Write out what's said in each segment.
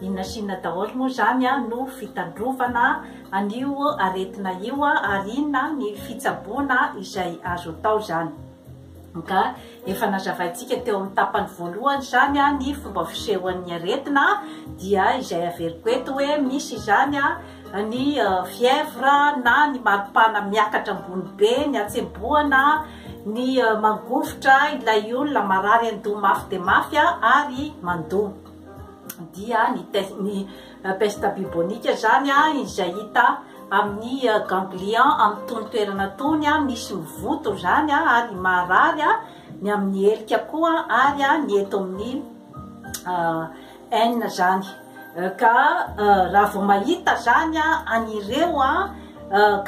Inona sy inona daholo moa izany no fitandrovana an'io aretina io ary inona ny fitsaboana izay azo atao izany? Ka efa nazavaintsika teo amin'ny tapany voalohany izany ny fomba fisehoan'ny aretina dia izay averiko eto hoe misy izany ny fièvre na ny maripana miakatra ambony be, ny hatsembohana, ny mangovitra ilay olona, marary an-doha mafy dia mafy ary mandoa. dia ny peste bubonique izany izay hita amin'ny euh, ganglion amin'ny tony toerana tony misy mivoto izany ary marary ny amin'ny helika koa ary ny eto amin'ny euh, aina izany euh, ka raha vao mahita izany an'ireo a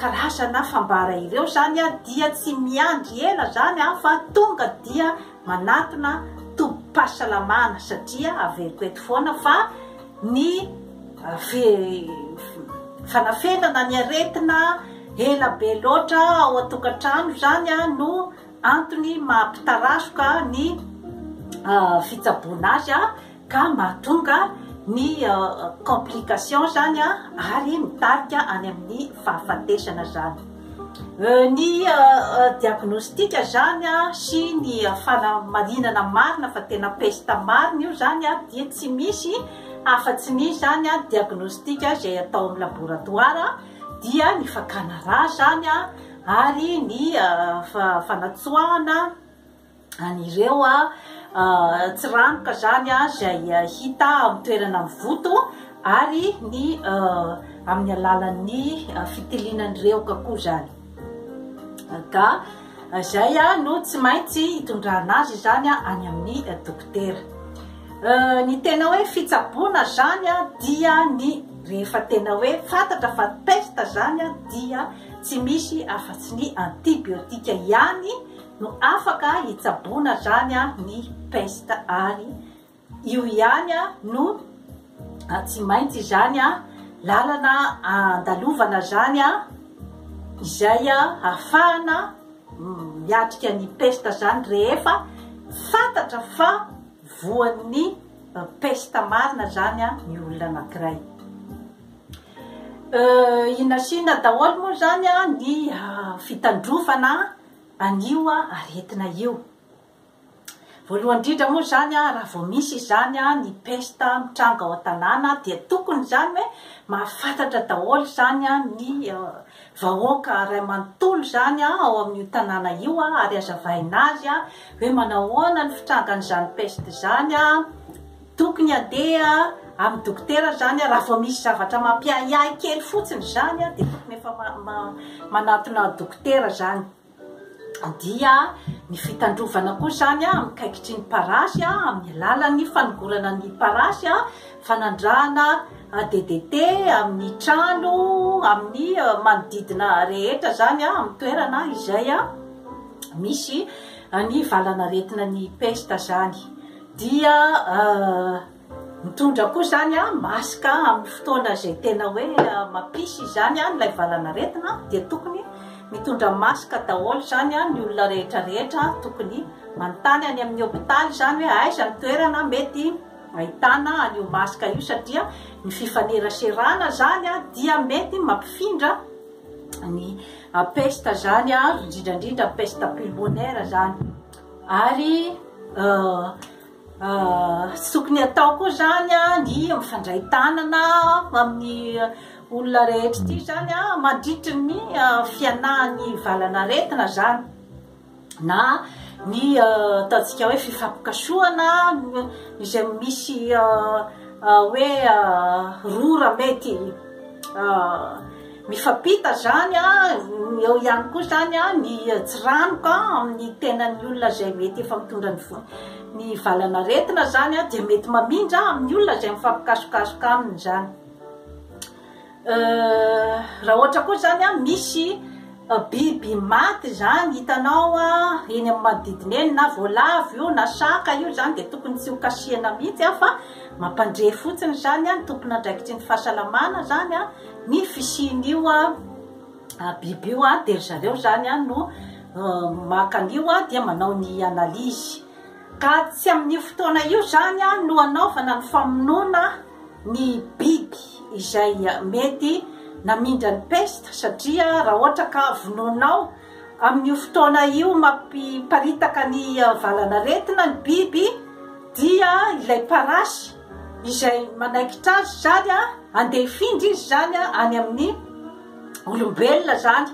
karazana fambara ireo izany dia tsy miandry ela izany fa tonga dia manatona tobim-pahasalamana satria averiko eto foana fa ny fanafenana ny aretina ela be loatra ao an-tokantrano izany no antony maha-pitarazoka ny fitsaboana azy ka mahatonga ny complication zany ary mitarika any amin'ny fahafatesana zany ny diagnostic zany sy ny fanamarinana marina fa tena pesta marina io zany dia tsy misy afa tsy ny zany diagnostic izay atao amin'ny laboratoire dia ny fakana rà zany ary ny fanatsoahana an'ireo tsiranoka izany izay hita amin'ny toerana mivoto ary ny amin'ny alalan'ny fitiliana ny rehoka koa izany. Ka izay no tsy maintsy hitondrana azy izany any amin'ny dokotera. Ny tena hoe fitsaboana izany dia ny rehefa tena hoe fantatra fa pesta izany dia tsy misy afa-tsy ny antibiotika ihany no afaka hitsaboana zany ny peste ary io ihany no tsy maintsy zany lalana andalovana zany izay hafahana miatrika ny peste zany rehefa fatatra fa voan'ny peste marina zany ny olona anakiray inasina daholo moa zany ny fitandrovana an'io aretina io. Voalohany indrindra moa izany raha vao misy izany ny pesta mitranga ao an-tanàna dia tokony izany hoe mahafantatra daholo izany ny vahoaka iray manontolo izany ao amin'io tanàna io ary hazavaina azy hoe manahoana ny fitrangan'izany pesta izany Tokony handeha amin'ny dokotera izany aho, raha vao misy zavatra mampiahiahy kely fotsiny izany aho dia tokony efa manatona dokotera izany. Dia ny fitandrovana koa izany aho amin'ny kaikitry ny parasy amin'ny alalan'ny fanogorana ny parasy, fanandrahana DDT amin'ny trano, amin'ny manodidina rehetra izany amin'ny toerana izay misy ny valan'aretina ny pesta izany. Dia mitondra koa izany masque amin'ny fotoana izay tena hoe mampisy izany ilay valan'aretina dia tokony mitondra masque daholo izany ny olona rehetra rehetra tokony manontany any amin'ny hopitaly izany hoe aiza ny toerana mety ahitana an'io masque io satria ny fifaneraserana izany dia mety mampifindra ny peste izany indrindra indrindra peste pulmonaire izany. Ary tsy tokony hatao koa izany ny mifandray tanana amin'ny olona rehetra ity izany mandritry ny fianahan'ny valan'aretina izany na ny ataontsika hoe fifampikasohana izay misy hoe rora mety Mifampita izany eo ihany koa izany ny tsiranoka amin'ny tenan'ny olona izay mety efa mitondra ny ny valan'aretina izany dia mety mamindra amin'ny olona izay mifampikasokasoka aminy izany. Raha ohatra koa izany misy biby maty izany hitanao eny amin'ny manodidina eny na voalavo io na saka io izany dia tokony tsy ho kasihina mihitsy fa mampandre fotsiny izany ny tompon'andraikitry ny fahasalamana izany. Ny fisian'io biby io dia ry zareo izany no maka an'io dia manao ny analyse. Ka tsy amin'io fotoana io izany no anaovana ny famonoana ny biby izay mety namindra ny peste satria raha ohatra ka vonoinao amin'io fotoana io mampiparitaka ny valan'aretina ny biby dia ilay parasy izay manaikitra azy izany a, andeha hifindra izy izany a, any amin'ny olombelona izany,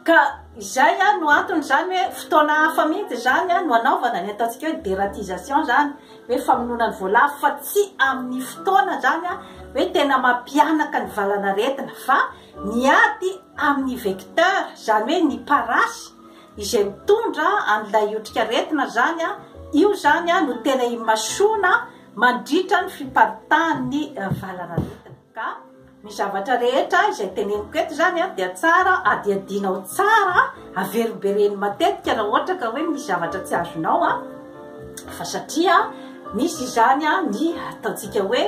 ka izay a no antony izany hoe fotoana hafa mihitsy izany a no anaovana ny ataontsika hoe deratisation izany, hoe famonoana ny voalavo, fa tsy amin'ny fotoana izany a hoe tena mampihanaka ny valanaretina, fa ny ady amin'ny vecteur, izany hoe ny parasy izay mitondra an'ilay otrikaretina izany a, io izany a no tena imasoana. mandritra ny fiparitahan'ny valanaretina. Ka ny zavatra rehetra izay teneniko eto izany dia tsara adihadianao tsara, averimbereno matetika raha ohatra ka hoe misy zavatra tsy azonao a, fa satria misy izany a ny ataontsika hoe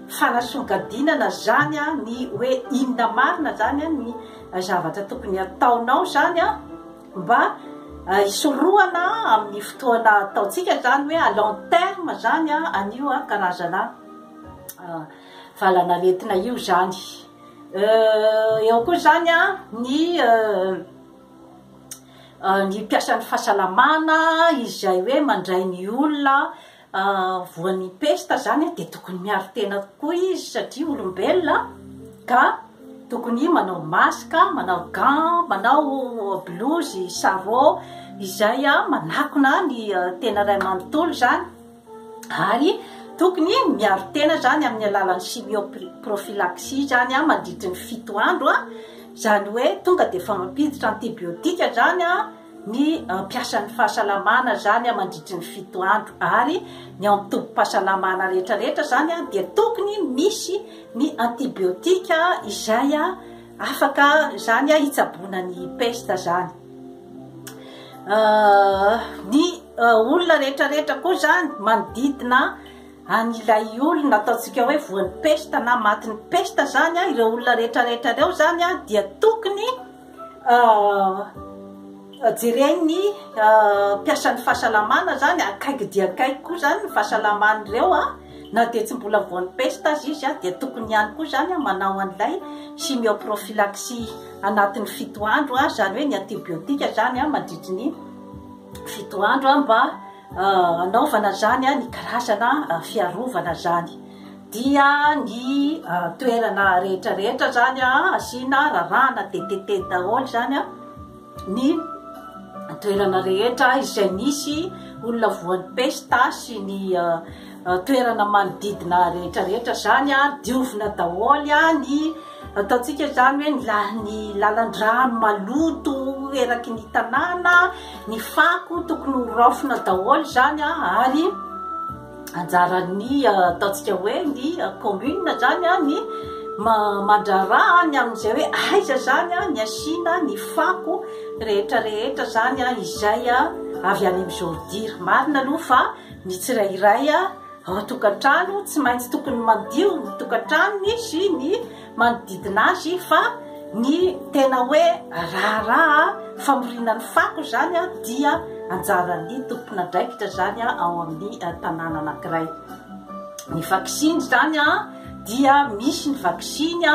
fanasongadinana zany a ny hoe inona marina zany a ny zavatra tokony ataonao zany a. Mba hisorohana amin'ny fotoana ataontsika izany hoe à long terme izany an'io karazana valanaretina io izany. Eo koa izany ny ny mpiasan'ny fahasalamana izay hoe mandray ny olona voan'ny pesta zany dia tokony miaro tena kokoa izy satria olombelona ka tokony manao masque, manao gants, manao blouse, sarraux izay manakona ny tena iray manontolo zany ary tokony miaro tena zany amin'ny alalan'ny chimio prophylaxie zany mandritry ny fito andro zany hoe tonga dia efa mampiditra antibiotique zany ny mpiasan'ny fahasalamana zany mandritry ny fito andro ary ny ao tobim-pahasalamana rehetra rehetra zany dia tokony misy ny antibiotika izay afaka zany hitsaboana ny pesta zany ny olona rehetra rehetra koa zany manodidina an'ilay olona ataontsika hoe voan'ny pesta na matin'ny pesta zany ireo olona rehetra rehetra ireo zany dia tokony Jeren'ny mpiasan'ny fahasalamana izany, akaiky dia akaiky koa izany ny fahasalaman'ireo an, na dia tsy mbola voan'ny pesta aza izy dia tokony ihany koa izany an manao an'ilay chimio prophylaxie anatin'ny fito andro an, izany hoe ny antibiotika izany an mandritry ny fito andro an mba. anaovana zany ny karazana fiarovana zany dia ny toerana rehetra rehetra zany asiana rarahana dtt daholo zany a ny toerana rehetra izay nisy olona voan'ny pesta sy ny toerana manodidina rehetra rehetra zany a diovina daholo a ny ataontsika zany hoe ny la- ny lalan-drano maloto eraky ny tanàna ny fako tokony ho raofina daholo zany a ary anjaran'ny ataontsika hoe ny commune zany a ny ma- mandraharaha ny amin'izay hoe aiza zany a ny asiana ny fako rehetra rehetra zany a izay a avy any am'izao dira marina aloha fa Ny tsirairay ao an-tokantrano tsy maintsy tokony mandio ny tokantranony sy ny manodidina azy fa ny tena hoe raharaha famoriana ny fako izany dia anjaran'ny tompon'andraikitra izany ao amin'ny tanàna anankiray. Ny vaksiny izany dia misy ny vaksiny.